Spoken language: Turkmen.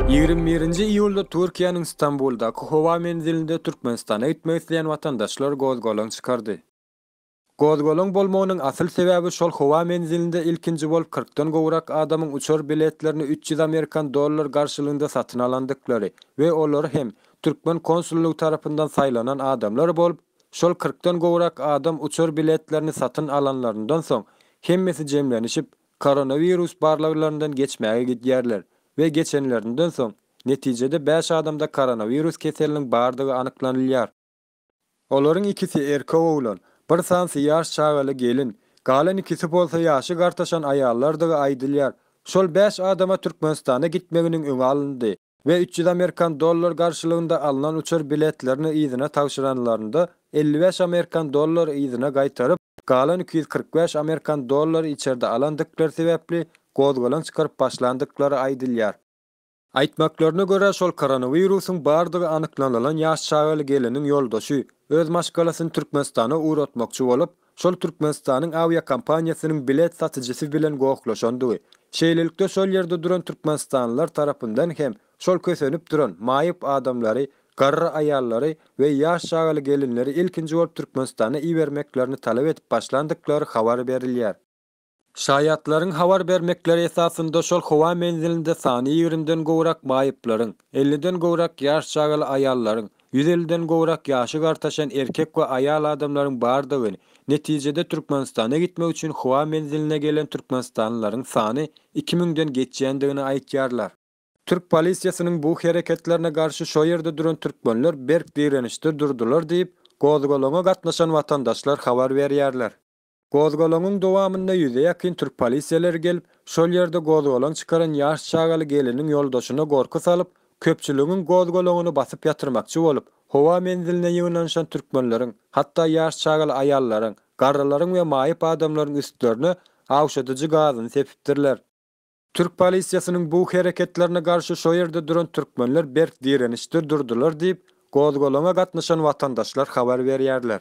Ýigrimi birinji iýulda Türkiýäniň Stambuldaky howa menzilinde Türkmenistana gitmek isleýän watandaşlar gozgalaň çykardy. Gozgalaň bolmagynyň asyl sebäbi şol howa menzilinde ilkinji bolup kyrkdan gowrak adamyň uçar biletlerini üç ýüz amerikan dollar garşylygynda satyn alandyklary we olar hem türkmen konsullygy tarapyndan saýlanan adamlar bolup, şol kyrkdan gowrak adam uçar biletlerini satyn alanlaryndan soň hemmesi jemlenişip Koronawirus barlaglaryndan geçmäge gidýärler we geçenlerinden soň, netijede bäş adamda koronawirus keseliniň bardygy anyklanylýar. Olaryň ikisi erkek oglan, bir sanysy ýaş çagaly gelin, galan ikisi bolsa ýaşy gartaşan aýallardygy aýdylýar. Şol bäş adama Türkmenistana gitmeginiň öňi alyndy. we üç ýüz amerikan dollary garşylygynda alnan uçar biletlerini yzyna tabşyranlarynda elli bäş amerikan dollary yzyna gaýtaryp, galan iki ýüz kyrk bäş amerikan dollary içerde alandyklary sebäpli gozgalaň çykaryp başlandyklary aýdylýar. Aýtmaklaryna görä, şol koronawirusyň bardygy anyklanylan ýaş çagaly geliniň ýoldaşy öz maşgalasyny Türkmenistana ugratmakçy bolup, şol Türkmenistanyň awiakompaniýasynyň bilet satyjysy bilen gohlaşandygy, şeýlelikde şol ýerde duran türkmenistanlylar tarapyndan hem şol kösenip duran maýyp adamlary, garry aýallary we ýaş çagaly gelinleri ilkinji bolup Türkmenistana ibermeklerini talap edip başlandyklary habar berilýär. Şaýatlaryň habar bermekleri esasynda şol howa menzilinde sany ýigrimiden gowrak maýyplaryň, elliden gowrak ýaş çagaly aýallaryň, ýüz elliden gowrak ýaşy gartaşan erkek we aýal adamlaryň bardygyny, netijede Türkmenistana gitmek üçin howa menziline gelen türkmenistanlylaryň sany iki müňden geçýändigini aýtýarlar. Türk polisiýasynyň bu hereketlerine garşy şo ýerde duran türkmenler berk direnişde durdular diýip, gozgalaňa gatnaşan watandaşlar habar berýärler. Gozgalaňyň dowamynda ýüze ýakyn türk polisiýaleri gelip, şol ýerde gozgalaň çykaran ýaş çagaly geliniň ýoldaşyna gorky salyp, köpçüligiň gozgalaňyny basyp ýatyrmakçy bolup, howa menziline ýygnanyşan türkmenleriň, hatda ýaş çagaly aýallaryň, garrylaryň we maýyp adamlaryň üstlerine awşadyjy gazyny sepipdirler. Türk polisiýasynyň bu hereketlerine garşy şo ýerde duran türkmenler berk direnişde durdular diýip, gozgalaňa gatnaşan watandaşlar habar berýärler.